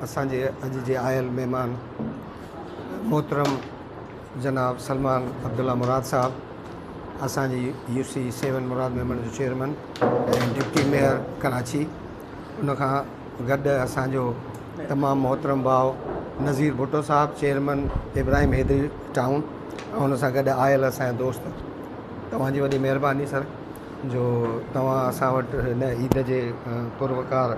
اسان جي اڄ جي آيل مهمان محترم جناب سلمان عبدالله مراد صاحب اسان جي يو سي سيون مراد ميمڻ جو چيئرمين ۽ ڊپٽي ميئر ڪراچي ان کان گڏ اسان جو تمام محترم ڀاء نظير ڀٽو صاحب چيئرمين ابراهيم حيدري ٽائون ۽ ان سان گڏ آيل اسان جا دوست توهان جي وڏي مهرباني سر جو توهان اسان وٽ هن عيد جي پروقار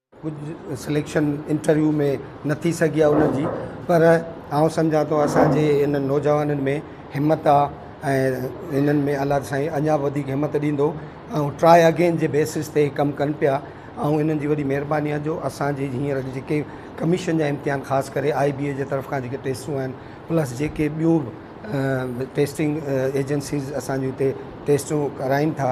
ڪجهه سليڪشن انٽرويو ۾ نه ٿي سگهي آهي انهن جي پر آئون سمجهان ٿو اسان جي انهن نوجوانن ۾ همت آهي ۽ انهن ۾ الله سائين اڃا به وڌيڪ همت ڏيندو ۽ ٽرائي اگين جي بيسز تي ڪم ڪن پيا ۽ انهن جي وڏي مهرباني آهي جو اسان جي هينئر جيڪي ڪميشن جا امتحان خاص ڪري آئي بي اي جي طرف کان جيڪي ٽيسٽون آهن پلس جيڪي ٻيون به ٽيسٽنگ ايجنسيز اسان جي هتي ٽيسٽون ڪرائين ٿا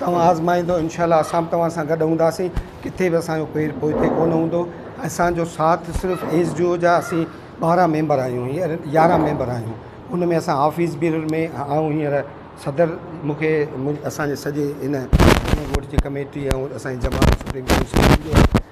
توهان آزمائيندو انشاء الله اسان به توهان سان گڏ هونداسين ڪٿي به اسان جو پير پوئتي ڪونه هوندو اسان جو ساٿ صرف ايس جي او جا اسين ٻارهن ميمبر آهيون هينئر يارهن ميمبر آهيون ان ۾ اسان آفيس بي ۾ آئون هينئر صدر مونکي اسان جي سڄي هن ڳوٺ جي ڪميٽي ۽ اسان جي جماعت سپريم ڪونسل